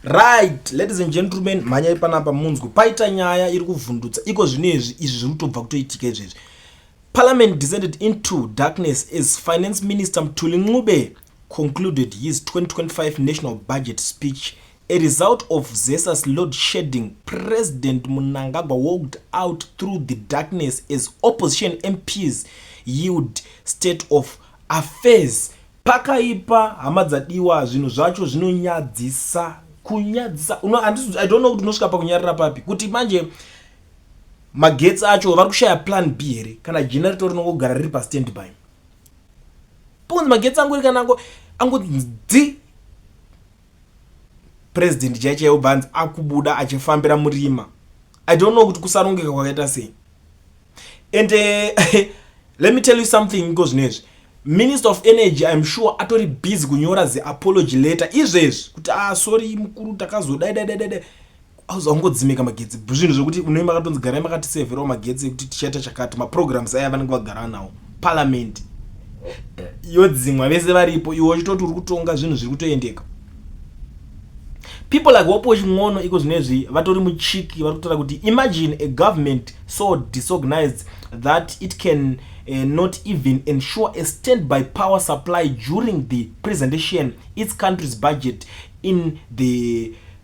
Right, ladies and gentlemen, mhanyai panapa munzwe paita nyaya iri kuvhundutsa iko zvino izvi izvi zviri kutobva kutoitika izvezvi. Parliament descended into darkness as Finance Minister Mthuli Ncube concluded his 2025 national budget speech. A result of Zesa's load shedding, President Mnangagwa walked out through the darkness as opposition MPs yield state of affairs. Pakaipa hama dzadiwa zvinhu zvacho zvinonyadzisa kunyadzisa no, I don't know kuti unosvika pakunyarira papi kuti manje magetsi acho vari kushaya plan b here kana generator rinongogara riri pastandby pokunzi magetsi angu rikanango ango dzi president chai chaiwo bvanzi akubuda achifambira murima i don't know kuti kusarongeka kwakaita sei and uh, let me tell you something iko zvino izvi minister of energy im sure atori busy kunyora ziapology letter izvezvi kuti ah sorry mukuru takazodaidaidaidai auza ungodzimika magetsi bzvinhu zvekuti unoi makatonzi garai makatisevherawo magetsi ekuti tichaita chakati maprograms aya vanenge vagara nawo parliament yodzimwa vese varipo iwe uchitoti uri kutonga zvinhu zviri kutoendeka people like wopo chin'ono iko zvino izvi vatori muchiki vari kutora kuti imagine a government so disorganized that it can uh, not even ensure a stand by power supply during the presentation its country's budget in the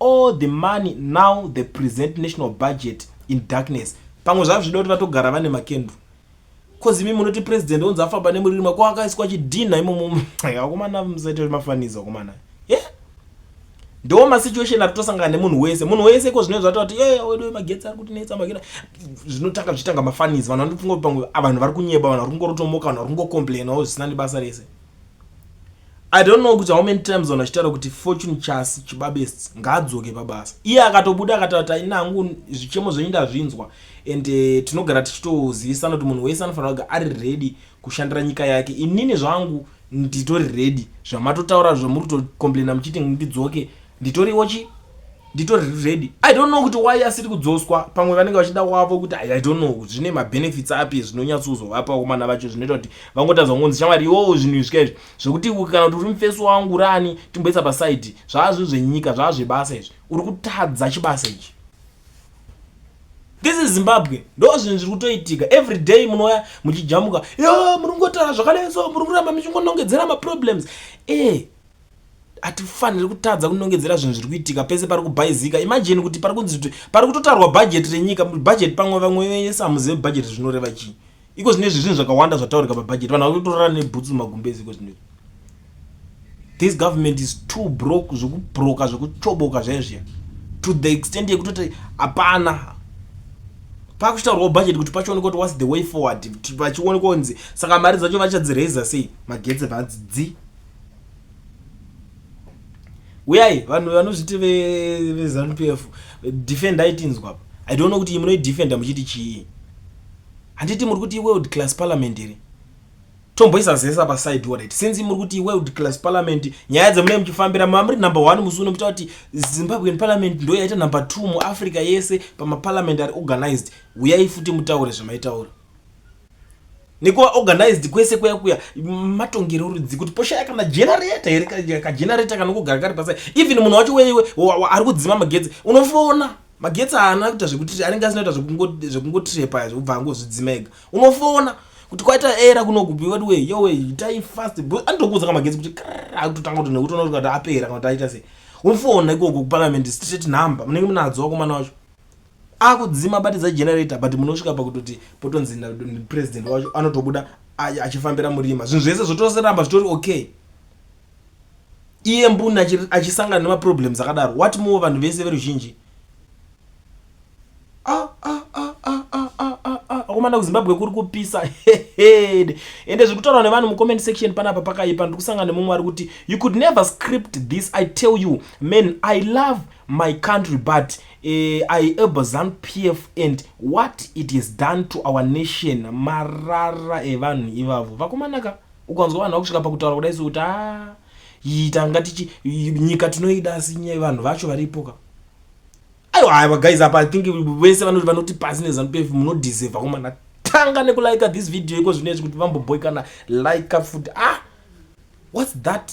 All the money now the present national budget in darkness. Pamwe zvave zvida kuti vatogara vane makendru. Cause imi munoti president onzi afamba nemuririma ko akaiswa chidhinha imomo. Akomana musaita mafaniza akomana. Yeah. Ndo ma situation atosangana nemunhu wese. Munhu wese ko zvino zvatova kuti yeah wedu magetsi ari kuti netsa magina. Zvinotanga zvitanga mafaniza. Vanhu vanofunga kuti pamwe vanhu vari kunyeba vanhu vari kungorotomoka vanhu vari kungocomplainawo zvisina nebasa rese. I don't know kuti how many times vanhu vachitaura kuti fortune chasi chibabest ngaadzoke pabasa iye akatobuda akatata ini hangu zvichemo zvenyu ndazvinzwa and uh, tinogara tichitozivisana kuti munhu wese anofanira kuga ari ready kushandira nyika yake inini zvangu nditori ready zvamatotaura zvamuri kutocomplaina muchiti ndidzoke nditoriwo chi nditori ready i don't know kuti why asiri kudzoswa pamwe vanenge vachida wavo kuti i don't know kuti zvine mabenefits api zvinonyatsozovapa komana vacho zvinoita kuti vangotadza kungonzi shamwari iwowo zvinhu izvika izvi zvekuti kana kuti uri mufesi wangu urani timboisa pasaidi zvaa zvinhu zvenyika zvaa zvebasa izvi uri kutadza chibasa ichi this is zimbabwe ndo zvinhu zviri kutoitika every day munouya muchijamuka yo muri kungotaura zvakanetso muri kuramba muchingonongedzera maproblems e eh, hatifaniri kutadza kunongedzera zvinhu zviri kuitika pese pari kubhaizika imajini kuti pari kunzi kuti pari kutotarwa bhajeti renyika bhajeti pamwe vamwe vese hamuzive bhajeti zvinoreva chii iko zvino izvi zvinhu zvakawanda zvataurika pabhajeti vanhu vakutorara nebhutsu mumagumbezi iko zvino this government is too broke zvekubroka zvekuchoboka zvaizviya to the extent yekutoti hapana pakuchitaurwa bhajeti kuti pachionekwa kuti whats the way forward vachionekwa kunzi saka mari dzacho vachadziraiza sei magetsi vadzidzi uyai vanhu vanozviti vezanu p f defend aitinzwa apa i don't know kuti munoidefenda muchiti chii handiti muri kuti world class parliament here tomboisa zese apa side warit since muri kuti world class parliament nyaya dzemunee muchifambira mava muri number one musi uno muchita kuti zimbabwean parliament ndo yaita number two muafrica yese pamaparliament ari organized uyai futi mutaure zvamaitaura nekuva organized kwese kuya kuya matongero rudzi kuti poshaya kana generator here kagenerator kanongogara kari pasai even munhu wacho weiwe ari kudzima magetsi unofona magetsi haana kuita zvekuti anenge asina kuita zvekungotrepa zvekubva angozvidzima ega unofona kuti kwaita era kunokupi vati we yowe itai fast anotokuudza ka magetsi kuti akutotanga kuti nekuti unoona kuti apera kana kuti aita sei unofona ikoko kuparliament straight number munenge munadzo wakomana wacho akudzima batidza generator but munosvika pakutoti potonzi president wacho anotobuda achifambira murima zvinhu zvese zvotoramba zvitori okay iye mbuni achisangana nemaproblems akadaro what more vanhu vese veruzhinji ah, ah, ah, akomana kuzimbabwe kuri kupisa heheed ende zviri kutaurwa nevanhu mucomment section panapa pakaipa ndiri kusangana nemumwe ari kuti you could never script this i tell you man i love my country but uh, I urban Zanu PF and what it has done to our nation marara evanhu ivavo vakomanaka ukanzwa vanhu vakusvika pakutaura kudai sokuti a ah, yitanga tichi nyika tinoida asi nyaya vanhu vacho varipoka aiwa aiwa guys apa i think vese vanoti vanoti pasi nezanu PF munodeserve vakomanaka tanga nekulika this video iko zvino izvi kuti vamboboikana like futi ah what's that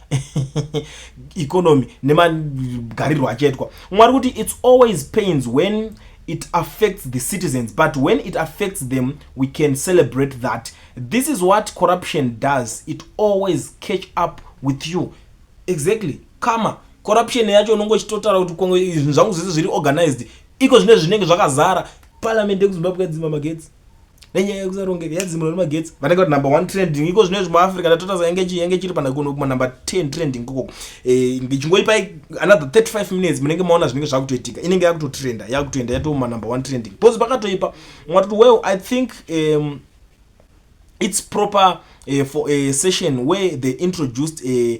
economy nemagarirwo achaitwa mwari kuti its always pains when it affects the citizens but when it affects them we can celebrate that this is what corruption does it always catch up with you exactly kama corruption yacho unongo chitotara kuti kongo zvinhu zvangu zvese zviri organized iko zvine zvinenge zvakazara parliament yekuzimbabwe kadzima magetsi nenyaya yekusarongeka yadzimura nemagetsi vanenge vati number one trending iko zvino izvi muafrica ndatotaza yange chii yange chiri panakuno kuma number ten trending koko eh, ndichingoipai another 35 minutes munenge maona zvinenge zvakutoitika inenge yakutotrenda yakutoenda yatouma number one trending bcause pakatoipa mwatoti well i think um, it's proper uh, for a session where they introduced a,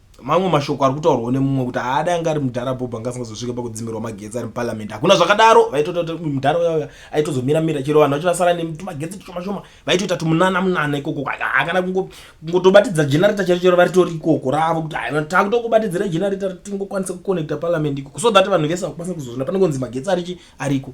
mamwe mashoko ari kutaurwawo nemumwe kuti haada anga ari mudhara bhobho anga asingazosvike pakudzimirwa magetsi ari muparliament hakuna zvakadaro vaitoita kuti mudhara uyauya aitozomira mira chero vanhu vachirasara netumagetsi tushoma shoma vaitoita tumunana munana ikoko hakana kungotobatidza generator chero chero varitori ikoko ravo kuti hai takutokubatidzira generator tingokwanisa kuconnecta parliament ikoko so that vanhu vese vakukwanisa kuzozvina pane kunzi magetsi arichi ariko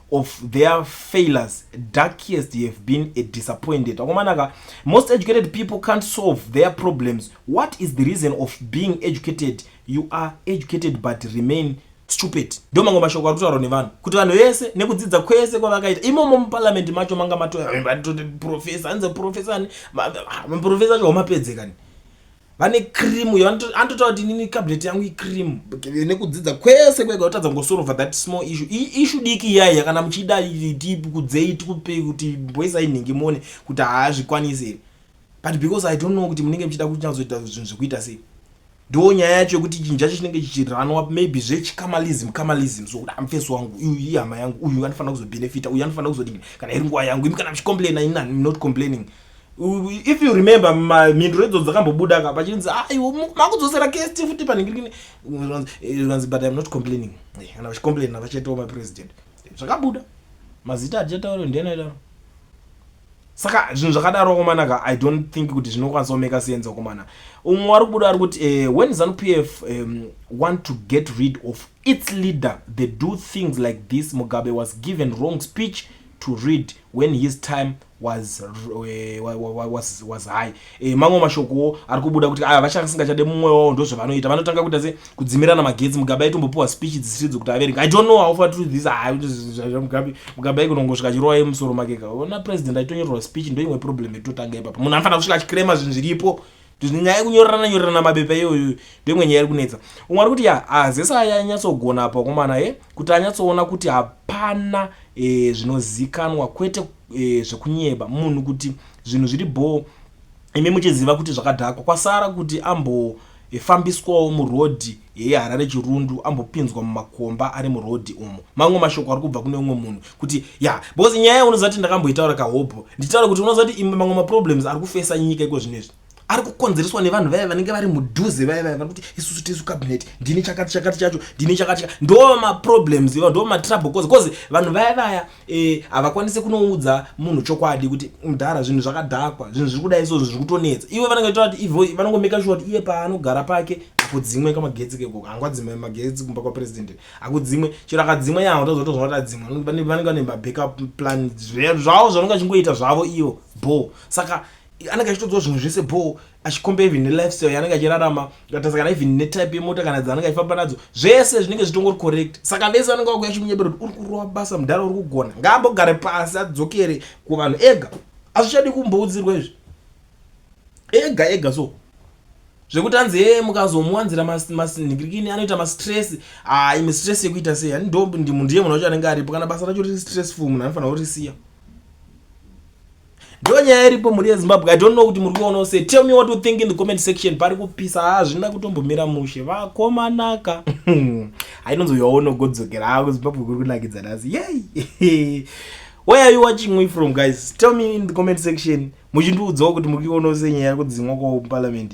of their failures darkest you have been a disappointed akomanaka most educated people can't solve their problems what is the reason of being educated you are educated but remain stupid ndo mango mashoko ari kutaurwa nevanhu kuti vanhu vese nekudzidza kwese kwavakaita imomo muparliament macho manga matoprofesa anze profesa profesa acho wamapedzekani vane cream uyo anototaura kuti inini cabinet yangu icream nekudzidza kwese kwega kutadza kungosorova that small issue ishu diki iyaiya kana muchida tikudzei tikupei kuti mboisai nhingi mone kuti haazvikwanisi here but because i don't know kuti munenge muchida kunyatsoita zvinhu zvekuita sei ndo nyaya yacho yekuti chinhu chacho chinenge chichiranwa maybe zvechikamalism kamalism so kuda mfesi wangu uyu ihama yangu uyu anofanira kuzobhenefita uyu anofanira kuzodii kana iri nguva yangu imi kana muchicomplaina ini not complaining mm. if you remember mhinduro idzo dzakambobuda ka pachinzi aiwo ah, makudzosera kst futi panhingirikini ranzi but im not complaining eh, kana vachicomplain navachatowo mapresident zvakabuda mazita atichataura ndiani aidaro saka zvinhu zvakadaro komanaka i don't think kuti zvinokwanisa kumeka sense komana umwe wari kubuda ari kuti uh, when zanu p f um, want to get rid of its leader they do things like this mugabe was given wrong speech to read when his time was eh, wa- wa- wa- was was high eh, mamwe mashokowo ari kubuda kuti aya vachasingachade mumwe wavo ndozvavanoita vanotanga kuita se kudzimirana magetsi mugabe aitombopiwa speech dzisiri dzekuti averengi i don't know how far true this are mugabe mugabe aikunongosvika achirowa yemusoro make ka ona president aitonyorerwa speech ndoimwe problem yatotanga ipapa munhu anofanira kusvika achikirema zvinhu zviripo nyaya yekunyorerana nyorerana mabepa iyoyo ndoimwe nyaya iri kunetsa umwe ari kuti ya azesa aya anyatsogona apa wakomana e kuti anyatsoona kuti hapana e, zvinozikanwa kwete e, zvekunyeba munhu kuti zvinhu zviri bhoo imi muchiziva kuti zvakadhakwa kwasara kuti ambofambiswawo murodhi Yeye Harare Chirundu ambopinzwa mumakomba ari muroad umu. Mamwe mashoko ari kubva kune umwe munhu kuti ya because nyaya unozati ndakamboitaura kahobho nditaura kuti unozati imwe mamwe maproblems ari kufesa nyika iko zvino izvi ari kukonzereswa nevanhu vaya vanenge vari mudhuze vaya vaya vanokuti isusu tisu cabinet ndini chakati chakati chacho ndini chakati ndo maproblems iva ndo matrouble cause cause vanhu vaya vaya Eh, havakwanise kunoudza munhu chokwadi kuti mdhara zvinhu zvakadhakwa zvinhu zviri kudai so zviri kutonetsa iwe vanenge tora kuti ivo vanongomeka shuwa kuti iye paanogara pake akudzimwe kamagetsi keko hangwa dzimwe magetsi kumba kwapresident akudzimwe chero akadzimwa yaho tazotozwa kuti adzimwa vanenge vane mabackup plan zvavo zvanonge achingoita zvavo ivo bho saka anenge achitodziwa zvinhu zvese bho achikomba even nelifestyle yaanenge achirarama ukatarisa kana even netype yemota kana dzaanenge achifamba nadzo zvese zvinenge zvitongori correct saka vese vanenge vakuya chimunyebera kuti uri kurova basa mudhara uri kugona ngaambogare pasi adzokere kuvanhu ega azvichadi kumboudzirwa izvi ega ega so zvekuti anzi hee mukazomuwanzira masinhikirikini anoita mastress haa imi stress yekuita sei ani ndo ndiye munhu wacho anenge aripo kana basa racho riri stressful munhu anofanira kurisiya ndo nyaya iripo mhuri yezimbabwe i don't know kuti muri kuonawo se tell me what you think in the comment section pari kupisa hazvina kutombomira mushe vakomanaka hainonzi uyo waunogodzokera haa kuzimbabwe kuri kunakidza nhasi yey where are you watching me from guys tell me in the comment section muchindiudzawo kuti muri kuonawo se nyaya yekudzimwa kwawo muparliament